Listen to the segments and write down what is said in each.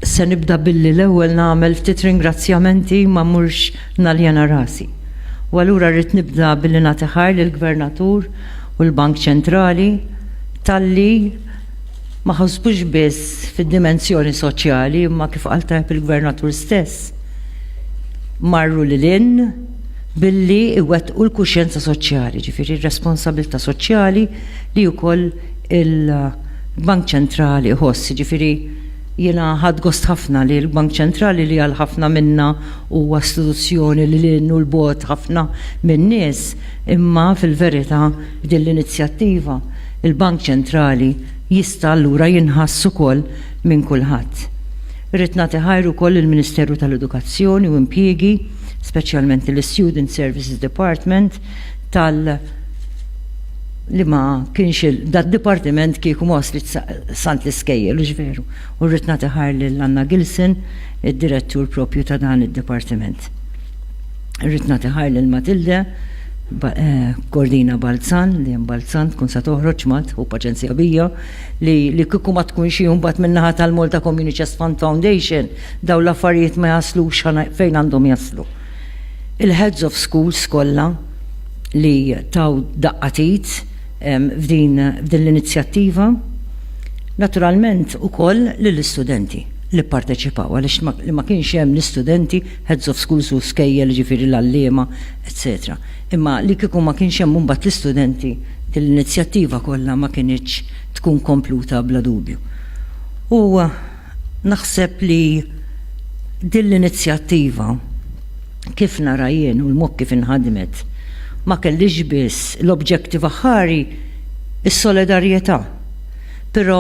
Se nibda billi l-ewwel nagħmel ftit ringrazzjamenti ma mhux naljena rasi. U allura rrid nibda billi nagħti ħar lill-Gvernatur u l-Bank Ċentrali talli ma ħosbux biss fid-dimensjoni soċjali imma kif qal tajb il-Gvernatur stess marru lil hinn billi jwettqu l-kuxjenza soċjali, jiġifieri r-responsabbiltà soċjali li wkoll il-Bank Ċentrali jħoss. Jiġifieri jiena ħadt gost ħafna li l-Bank Ċentrali li għal ħafna minna huwa istituzzjoni lil hinn u 'l bogħod ħafna min-nies, imma fil-verità b'din l-inizjattiva l-Bank Ċentrali jista' allura jinħass ukoll minn kulħadd. Irrid nagħti ħajr ukoll lill-Ministeru tal-Edukazzjoni u Impjiegi, speċjalment lill-Student Services Department tal li ma kienx dad-dipartiment kieku ma waslitx sant l-iskejjel, hux veru? U rrid nagħti ħajr lil Anna Gilson, id-direttur proprju ta' dan id-dipartiment. Irrid nagħti ħajr lil Matilde Cordina Balzan, li hemm Balzan tkun sa toħroġ mat, hu paċenzja bija, li li kieku ma tkunx hi mbagħad min-naħa tal-Malta Community Chest Fund Foundation dawn l-affarijiet ma jaslux fejn għandhom jaslu. Il-heads of schools kollha li taw daqqa t'id f'din f'din l-inizjattiva, naturalment ukoll lill-istudenti li pparteċipaw għaliex li ma kienx hemm l-istudenti, heads of schools u skejjel jiġifieri l-għalliema, etc. Imma li kieku ma kienx hemm imbagħad l-istudenti, din l-inizjattiva kollha ma kinitx tkun kompluta bla dubju. U naħseb li din l-inizjattiva, kif nara jien u l-mod kif inħadmet, ma kellhiex biss l-objettiv aħħari, is-solidarjetà, però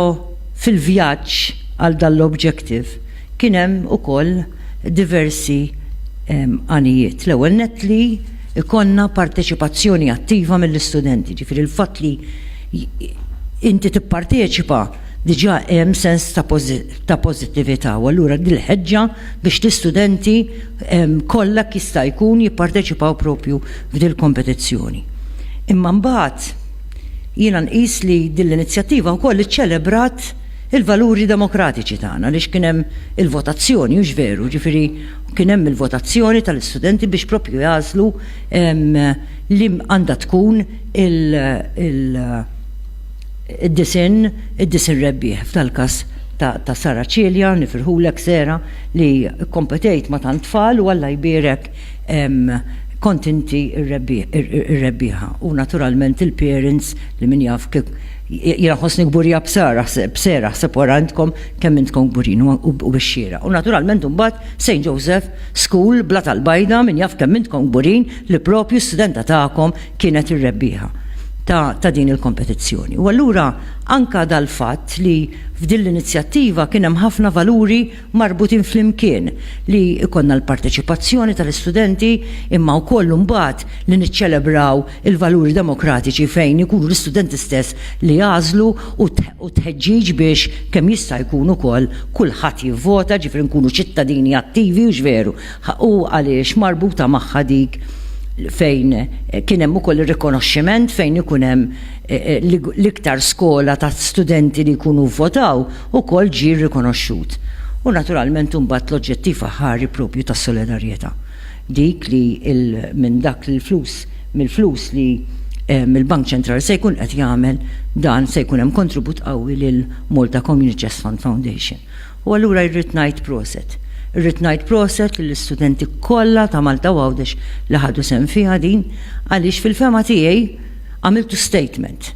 fil-vjaġġ għal dan l-objettiv kien hemm ukoll, diversi għanijiet. L-ewwel nett li jkollna parteċipazzjoni attiva mill-istudenti, jiġifieri l-fatt li inti tipparteċipa diġà hemm sens ta' pożittività u allura dil-ħeġġa biex l-istudenti kollha jista' jkun jipparteċipaw propju f'dil-kompetizzjoni. Imma mbagħad jiena nqis li din l-inizjattiva wkoll iċċelebrat il-valuri demokratiċi tagħna għaliex kien hemm il-votazzjoni, hux veru? Ġifieri kien hemm il-votazzjoni tal-istudenti biex proprju jagħżlu li għandha tkun il-disinn id-disinn rebbieħ f'dal-każ ta' Sarah Cilia, nifirħulek Sarah li kkompetejt ma' tant tfal u Alla jbierek kont inti r-rebbieħa u naturalment il-parents li min jaf Jiena ħossni kburija b'sara, b'sera ħseb wara intkom kemm intkom kburin u bix-xieraq. U naturalment imbagħad St. Joseph School, Blat għall-Bajda, min jaf kemm intkom kburin li propju studenta tagħkom kienet ir-rebbieħa ta' ta' din il-kompetizzjoni. U allura anke dal-fatt li f'din l-inizjattiva kien hemm ħafna valuri marbutin flimkien li jkollna l-parteċipazzjoni tal-istudenti imma wkoll imbagħad li niċċelebraw il-valuri demokratiċi fejn ikunu l-istudenti stess li jagħżlu u t-tħeġġiġ biex kemm jista' jkun ukoll kulħadd jivvota ġifieri nkunu ċittadini attivi hux veru u għaliex marbuta magħha dik fejn kien hemm ukoll ir-rikonoxximent fejn ikun hemm l-iktar skola ta' studenti li jkunu vvotaw ukoll ġie rrikonoxxut, u naturalment imbagħad l-oġġettiv aħħari proprju tas-solidarjetà, dik li minn dak li l-flus, mill-flus li l-Bank Ċentrali se jkun qed jagħmel dan se jkun hemm kontribut qawwi lil Malta Community Chest Fund Foundation. U allura irrid ngħid proset. Irrid ngħid proset lill-istudenti kollha ta' Malta u Għawdex li ħadu sehem fiha din għaliex fil-fehma tiegħi għamiltu statement.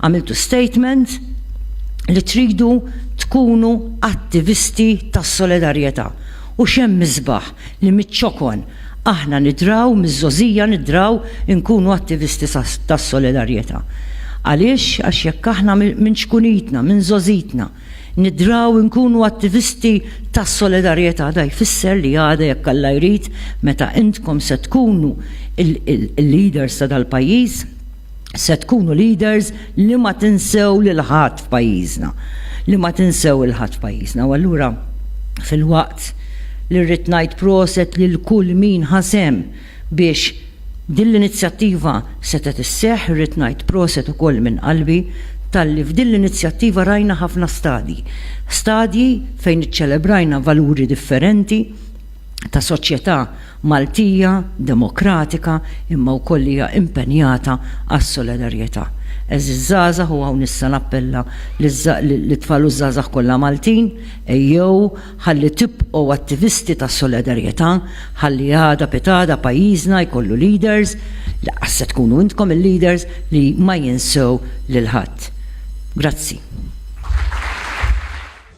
Għamiltu statement li tridu tkunu attivisti tas-solidarjetà u x'hemm isbaħ li miċ-ċokon aħna nidraw, miż-żgħożija nidraw inkunu attivisti tas-solidarjetà. Għaliex? Għax jekk aħna minn ċkunitna, minn żgħożitna nidraw inkunu attivisti tas-solidarjetà da jfisser li għada jekk Alla jrid meta intkom se tkunu l-leaders ta' dal-pajjiż, se tkunu leaders li ma tinsew lil ħadd f'pajjiżna, li ma tinsew lil ħadd f'pajjiżna. U allura filwaqt li rrid ngħid proset lil kull min ħa sehem biex din l-inizjattiva setgħet isseħħ, irrid ngħid proset ukoll minn qalbi talli f'din l-inizjattiva rajna ħafna stadji. Stadji fejn iċċelebrajna valuri differenti, ta' soċjetà Maltija demokratika imma wkoll li hija impenjata għas-solidarjetà. Għeżież żgħażagħ u hawn issa nappella lit-tfal u ż-żgħażagħ kollha Maltin, ejjew ħalli tibqgħu attivisti ta' solidarjetà, ħalli għada pitgħada pajjiżna jkollu leaders, lanqas se tkunu intkom il-leaders, li ma jinsew lil ħadd. Grazzi.